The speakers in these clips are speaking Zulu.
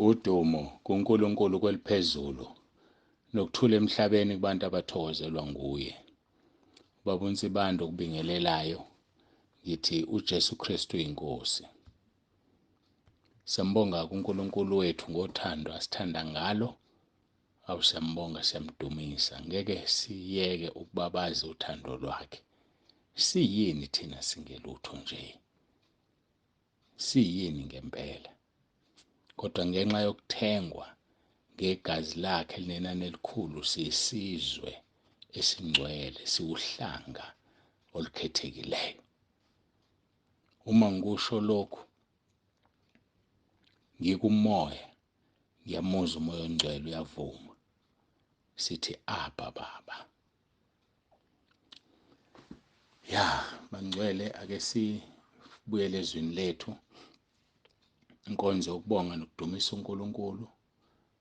Udumo kuNkulunkulu kweliphezulu nokuthula emhlabeni kubantu abathokozelwa nguye. Baba uNsibanda okubingelelayo ngithi uJesu Kristu inkosi. Siyambonga kuNkulunkulu wethu ngothando asithanda ngalo. Awu siyambonga siyamdumisa ngeke siyeke ukubabaza uthando lwakhe. Siyini thina singelutho nje. siyini ngempela. Kodwa ngenxa yokuthengwa ngegazi lakhe linenani elikhulu siyisizwe esingcwele siwuhlanga olukhethekileyo. Uma ngikusho lokhu ngikumoya ngiyamuzwa umoya ongcwele uyavuma sithi abba baba ya bangcwele ake sibuyele ezwini lethu inkonzo yokubonga nokudumisa uNkulunkulu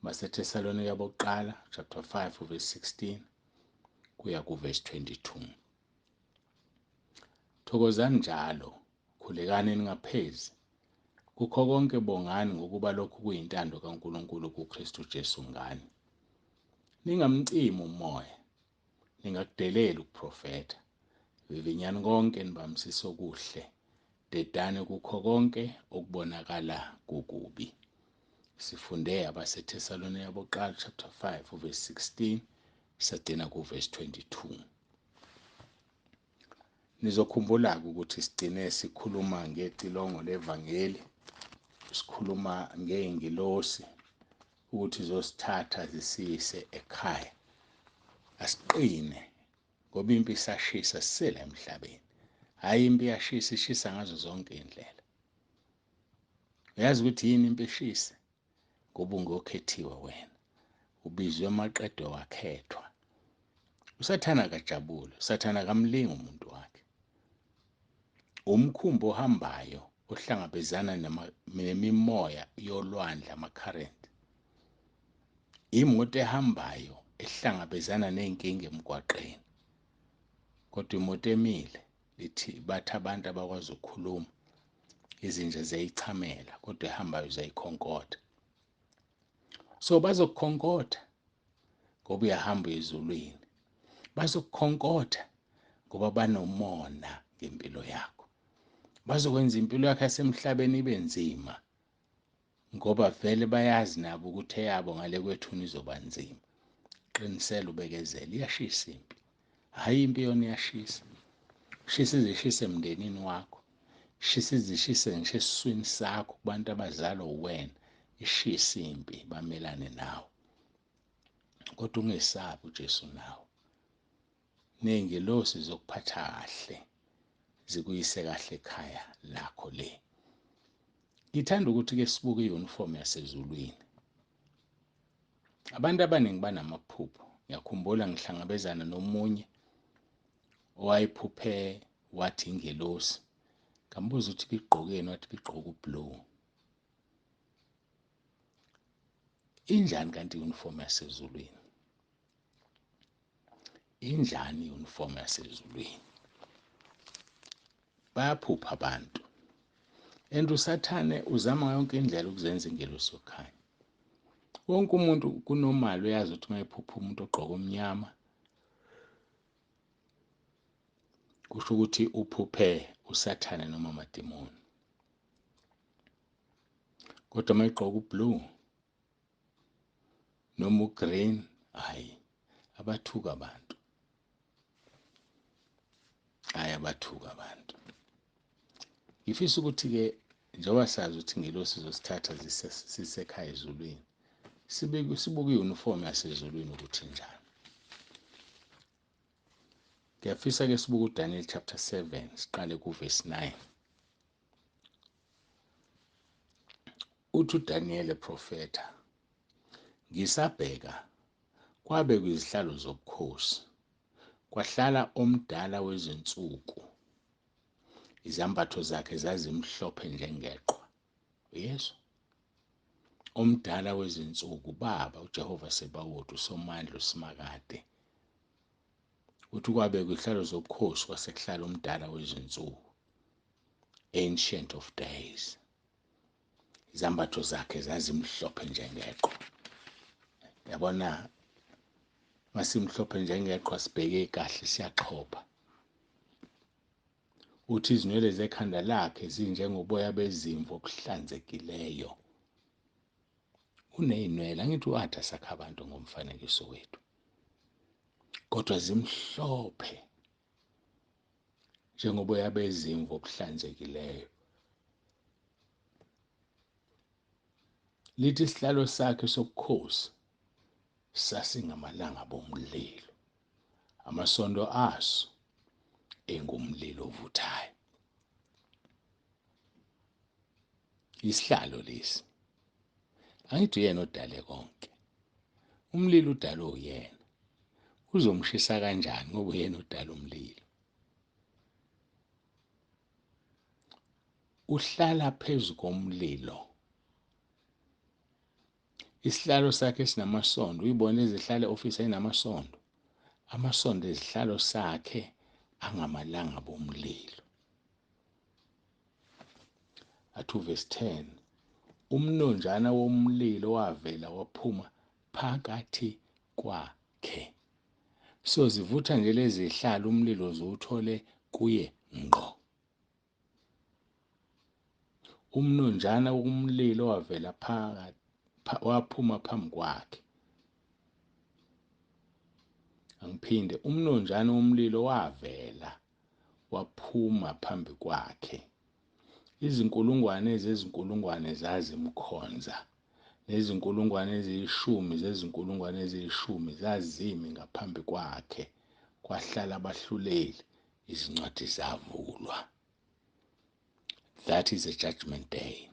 baseThesalonika bokuqala chapter 5 verse 16 kuya kuverse 22 thokozani njalo khulekani ningaphezi kukho konke bongani ngokuba lokhu kuyintando kaNkulunkulu kuKristu Jesu ngani Ningamcimi umoya, ningakudeleli ukuprofetha. Vivinyani konke nibambisise okuhle, dedane kukho konke okubonakala kukubi. Sifunde abaseThesalonika bokuqala chapter 5 verse 16 sagcina kuverse 22. Nizokhumbula-ke ukuthi sigcine sikhuluma ngecilongo levangeli, sikhuluma ngey'ngilosi ukuthi zosithatha zisiyise ekhaya. Asiqine ngoba impi isashisa sisele emhlabeni. Hhayi impi iyashisa, ishisa ngazo zonke iy'ndlela. Uyazi ukuthi yini impi ishise? ngoba ungokhethiwe wena ubizwe maqedwe wakhethwa usathana akajabule usathana akamlingi umuntu wakhe umkhumbi ohambayo ohlangabezana nemimoya yolwandle ama-current imoto ehambayo ehlangabezana ney'nkinga emgwaqeni kodwa imoto emile lithi bathi abantu abakwazi ukukhuluma izinja ziyayichamela kodwa ehambayo ziyayikhonkotha so bazokukhonkotha ngoba uyahamba ezulwini bazokukhonkotha ngoba banomona ngempilo yakho bazokwenza impilo yakho yasemhlabeni ibe nzima ngoba vele bayazi nabo ukuthi eyabo ngale kwethuna izoba nzima qinisela ubekezela iyashisa impi hhayi impi yona iyashisa shisa izishisa emndenini wakho shisa izishisa ngisho esiswini sakho kubantu abazalwa uwena ishisa impi bamelane nawe kodwa ungesabi ujesu nawe ney'ngelosi zokuphatha kahle zikuyise kahle ekhaya lakho le ngithanda ukuthi ke sibuke i-uniform yasezulwini abantu abaningi banamaphupho ngiyakhumbula ngihlangabezana nomunye owayephuphe wathi ingelosi ngambuza ukuthi bigqokeni wathi bigqoke ublue injani kanti i-uniform yasezulwini injani i-uniform yasezulwini bayaphupha abantu and usathane uzama yonke indlela ukuzenza ingelosi yokukhanya wonke umuntu kunomali uyazi ukuthi uma ephupha umuntu ogqoke omnyama kusho ukuthi uphuphe usathane noma amadimoni kodwa uma egqoka ublue noma ugreen hayi abathuka abantu hayi abathuka abantu ngifisa ukuthi-ke njengoba sazi ukuthi ngelosi zosithatha sisekhaya ezulwini sibuke i-uniform yasezulwini ukuthi njani ngiyafisa-ke sibuke udaniel chapter 7 siqale kuvesi 9 Uthi uDaniyeli eprofetha, Ngisabheka, kwabekwa izihlalo zobukhosi, kwahlala omdala wezinsuku. Izambatho zakhe zazimhlophe njengeqwa. Uyezwa? Omdala wezinsuku, Baba, uJehova Sebawoti, uSomandla, uSimakade. Uthi kwabekwa izihlalo zobukhosi kwasekuhlala umdala wezinsuku, Ancient of Days. izambatho zakhe zazimhlophe njengeqhwa yabona masimhlophe njengeqhwa sibheke kahle siyaxhopha uthi izinwele zekhanda lakhe zinjengoboya bezimvu obuhlanzekileyo unezinwele angithi uAtha sakha abantu ngomfanekiso wethu kodwa zimhlophe njengoboya bezimvu obuhlanzekileyo lithi isihlalo sakhe sobukhosi sasingamalanga bomlilo amasondo aso engumlilo ovuthayo Isihlalo lesi. Angithi uyena odale konke. Umlilo udalwe uyena. Uzomshisa kanjani ngoba uyena odala umlilo. Uhlala phezu komlilo. Isihlalo sakhe sinamasondo uyibona izihlale office enamasondo. Amasondo ezihlalo sakhe angamalanga bomlilo. Athu verse 10 umnonjana womlilo wavela waphuma phakathi kwakhe so zivutha nje lezi hlala umlilo ziwuthole kuye ngqo umnonjana womlilo wavela phakathi waphuma phambi kwakhe angiphinde umnonjana womlilo wavela waphuma phambi kwakhe. Izinkulungwane zezinkulungwane zazimkhonza, nezinkulungwane eziyishumi zezinkulungwane eziyishumi zazimi ngaphambi kwakhe, kwahlala abahluleli, izincwadi zavulwa. That is a judgment day.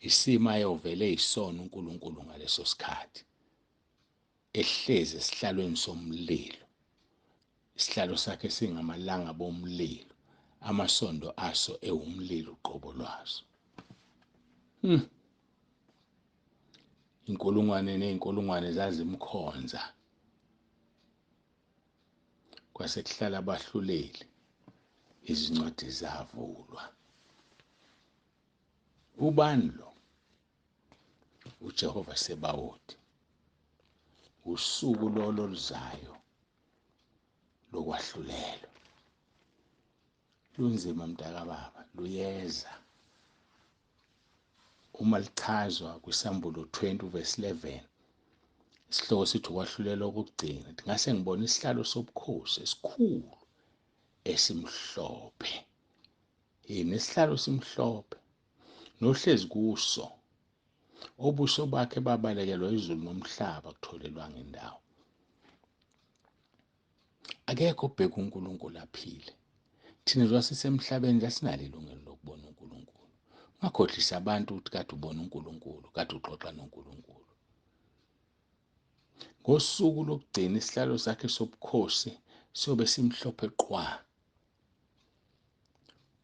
Isimo ayovele isona uNkulunkulu ngaleso sikhathi. ehlezi esihlalweni somlilo isihlalo sakhe singamalanga bomlilo amasondo aso ewumlilo uqobo lwaso hmm. inkulungwane nezinkulungwane zazimkhonza kwase kuhlala abahluleli izincwadi zavulwa ubani lo uJehova Sebawoti usuku lolo luzayo lokwahlulelwa lunzima mntakababa luyeza uma lichazwa kwisambulo 20 uvesi 11 isihloko sithi ukwahlulelwa kokugcina ngase ngibona isihlalo sobukhosi esikhulu esimhlophe yini isihlalo simhlophe nohlezi kuso obuso bakhe babalekelwa izulu nomhlaba kutholelwanga indawo akekho obheka uNkulunkulu aphile thina njengoba sisemhlabeni kasinalo ilungelo lokubona uNkulunkulu ungakhohlisa abantu ukuthi kade ubona uNkulunkulu kade uxoxa noNkulunkulu ngosuku lokugcina isihlalo sakhe sobukhosi siyobe simhlophe qwa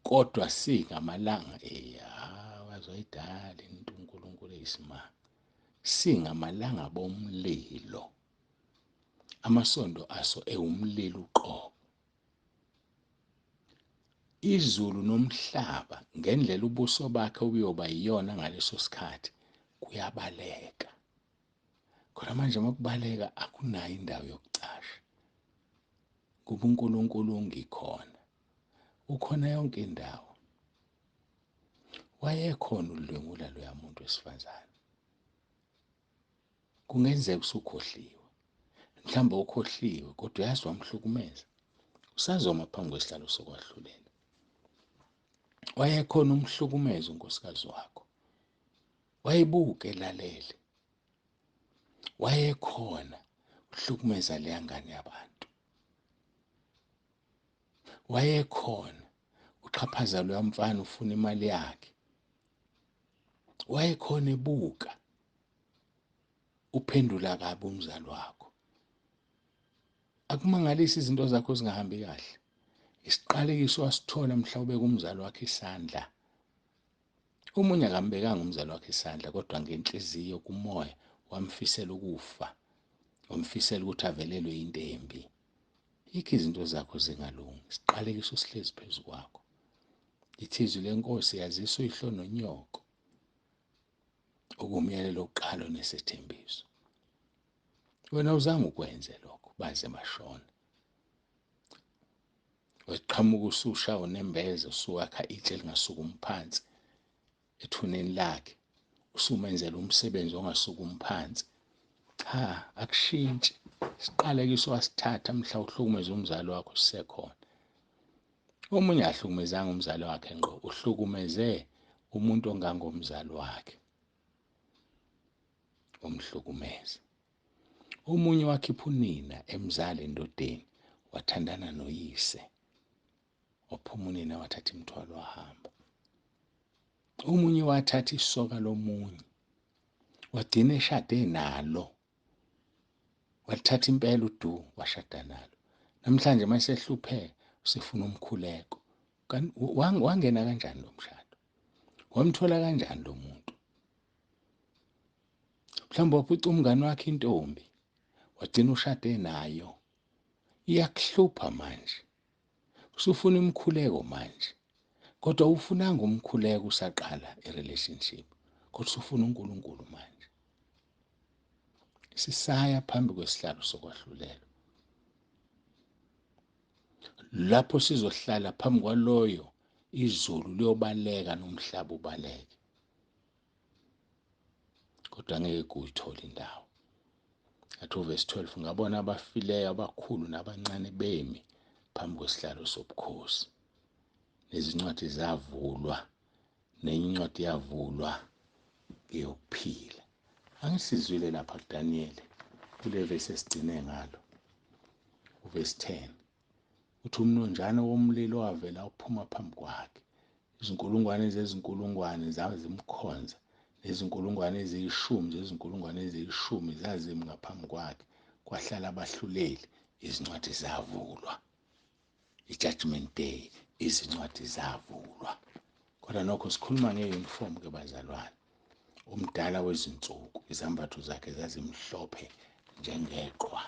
kodwa singamalanga eya wazoyidala into uNkulunkulu eyisimanga singamalanga bomlilo amasondo aso ewumlilo uqobo izulu nomhlaba ngendlela ubuso bakhe obuyoba yiyona ngaleso sikhathi kuyabaleka khona manje uma kubaleka akunayo indawo yokucasha kuba uNkulunkulu ungikhona ukhona yonke indawo wayekhona udlwengula loya muntu wesifazane kungenzeka usukhohliwe mhlawumbe ukhohliwe kodwa uyazi wamhlukumeza usazoma phambi kwesihlalo sokwahlulela wayekhona umhlukumeza unkosikazi wakho wayebuke elalele wayekhona uhlukumeza leya ngane yabantu wayekhona uxhaphaza loya mfana ufuna imali yakhe wayekhona ebuka uphendula kabi umzali wakho akumangalisi izinto zakho zingahambi kahle isiqalekiso wasithola mhlawumbe kumzali wakhe isandla Omunye akambekanga umzali wakhe isandla kodwa ngenhliziyo kumoya wamfisela ukufa, wamfisela ukuthi avelelwe into embi. Yikho izinto zakho zingalungi, siqalekiso sihlezi phezu kwakho. Ithizwi lenkosi yazisa uyihlo nonyoko okumyalelo oqalo nesethembiso. Wena uzange ukwenze lokho baze bashona. weqhamuka ususha unembeza usuwakha itshe lingasukumi phansi ethuneni lakhe usumenzela umsebenzi ongasukumi phansi cha akushintshi siqalekiso wasithatha mhla uhlukumeza umzali wakho sisekhona omunye ahlukumezanga umzali wakhe ngqo uhlukumeze umuntu ongangomzali wakhe umhlukumeze Omunye wakhipha unina emzala endodeni wathandana noyise waphuma unina wathatha imithwalo wahamba omunye wathatha isoka lomunye wagcina eshade nalo wathatha impela udu washada nalo namhlanje uma sehlupheka usefuna umkhuleko wangena kanjani lo mshado wamthola kanjani lo muntu mhlawumbe waphuca umngane wakhe intombi wagcina ushade nayo iyakuhlupha manje usufuna imkhuleko manje kodwa ufunanga umkhuleko usaqala irelationship kodwa usufuna uNkulunkulu manje sisaya phambi kwesihlalo sokwahlulelwa lapho sizohlala phambi kwaloyo izulu liyobaleka nomhlaba ubaleke kodwa ngeke kuyithole indawo athi uvesi 12 ngabona abafileyo abakhulu nabancane bemi phambi kwesihlalo sobukhosi nezincwadi zavulwa nenye incwadi yavulwa eyokuphila angisizwile lapha kuDaniyeli kule vesi esigcine ngalo uvesi 10 Uthi umnonjana womlilo wavela uphuma phambi kwakhe. Izinkulungwane zezinkulungwane zazimkhonza, nezinkulungwane eziyishumi zezinkulungwane eziyishumi zazimi ngaphambi kwakhe. Kwahlala abahluleli, izincwadi zavulwa. I-Judgment Day, izincwadi zavulwa. Kodwa nokho sikhuluma nge-uniform ke bazalwane. Umdala wezinsuku, izambatho zakhe zazimhlophe njengeqhwa.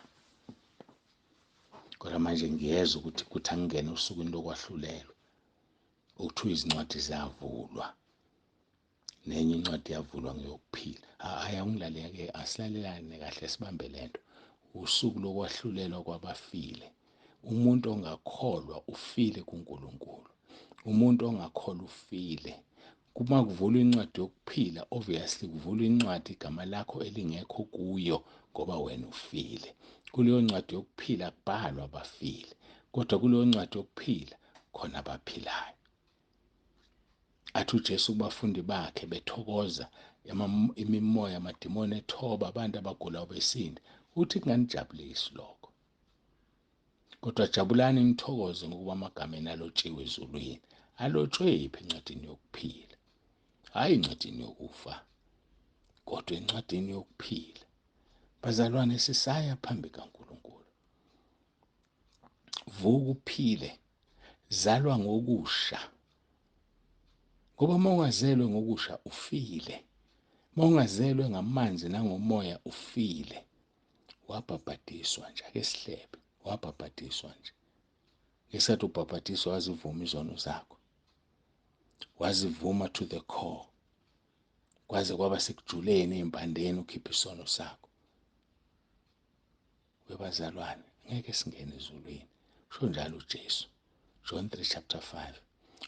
kodwa manje ngiyezwa ukuthi kuthi angingene osukwini lokwahlulelwa okuthiwa izincwadi ziyavulwa nenye incwadi yavulwa ngeyokuphila hhayi angilaleke asilalelane kahle sibambe le nto usuku lokwahlulelwa kwabafile umuntu ongakholwa ufile kuNkulunkulu umuntu ongakholwa ufile Uma kuvulwa incwadi yokuphila obviously kuvulwa incwadi igama lakho elingekho kuyo ngoba wena ufile kuleyo ncwadi yokuphila kubhalwa abafile kodwa kuleyo ncwadi yokuphila khona abaphilayo athi uJesu kubafundi bakhe bethokoza imimoya amadimoni ethoba abantu abagulayo besinda uthi kunganijabulisi lokho Kodwa jabulani nithokoze ngokuba amagama enu alotshiwe ezulwini. Alotshwephi encwadini yokuphila? Hhayi encwadini yokufa, kodwa encwadini yokuphila. Bazalwane, sisaya phambi kaNkulunkulu. Vuka uphile, zalwa ngokusha. Ngoba uma ungazelwe ngokusha, ufile. Uma ungazelwe ngamanzi nangomoya, ufile. wabhabhadiswa nje ake sihlebe wabhabhadiswa nje ngesikhathi ubhabhadiswa wazivuma izono zakho wazivuma to the core kwaze kwaba sekujuleni ezimpandeni ukhipha isono sakho webazalwane ngeke singene ezulwini usho njalo uJesu John 3 chapter 5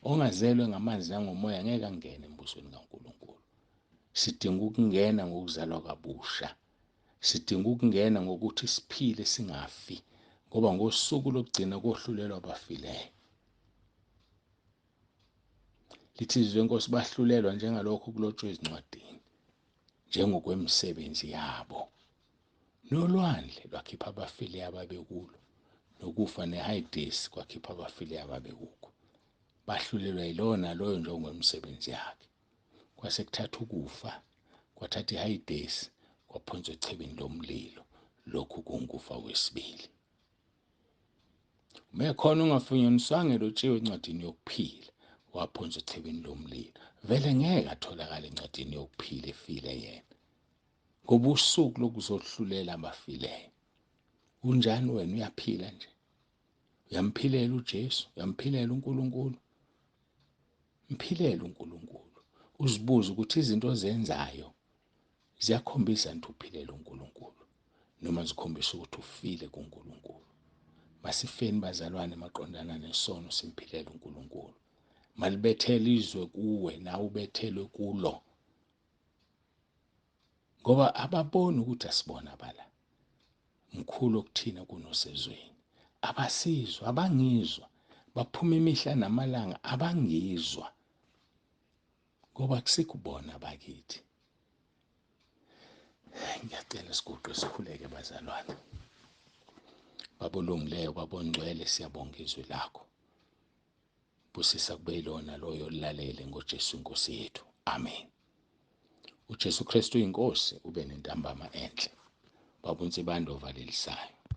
ongazelwe ngamanzi nangomoya ngeke angene embusweni kaNkulunkulu sidinga ukungena ngokuzalwa kabusha Sidinga ukungena ngokuthi siphile singafi ngoba ngosuku lokugcina kohlulelwa abafileyo. Lithi izwi lenkosi bahlulelwa njengalokho kulotshwe ezincwadini njengokwemisebenzi yabo. Nolwandle lwakhipha abafileyo ababekulo nokufa neHades kwakhipha abafileyo ababekukho. Bahlulelwa yilona loyo njengokwemisebenzi yakhe. kwase kuthatha ukufa kwathatha ihayidesi kwaphonswa echibini lomlilo lokhu kungufa wesibili uma ekhona ongafunyaniswanga elotshiwe encwadini yokuphila waphonswa echibini lomlilo vele ngeke atholakale encwadini yokuphila efile yena ngoba usuku lokuzohlulela abafileyo unjani wena uyaphila nje uyamphilela uJesu uyamphilela uNkulunkulu mphilela uNkulunkulu uzibuze ukuthi izinto ozenzayo ziyakhombisa nti uphilela uNkulunkulu noma zikhombisa ukuthi ufile kuNkulunkulu masifeni bazalwane maqondana nesono simphilela uNkulunkulu malibethela izwe kuwe nawe ubethelwe kulo ngoba ababoni ukuthi asibona bala mkhulu okuthina kunosezweni abasizwa abangizwa baphuma imihla namalanga abangizwa ngoba kusikubona bakithi ngiyacela siguqe sikhuleke bazalwane babolungileyo babongcwele siyabonga izwi lakho Busisa kube yilona loyo lilalele ngoJesu inkosi yethu. Amen. UJesu Kristu inkosi ube nentambama enhle. Baba uNsibande ovalelisaya.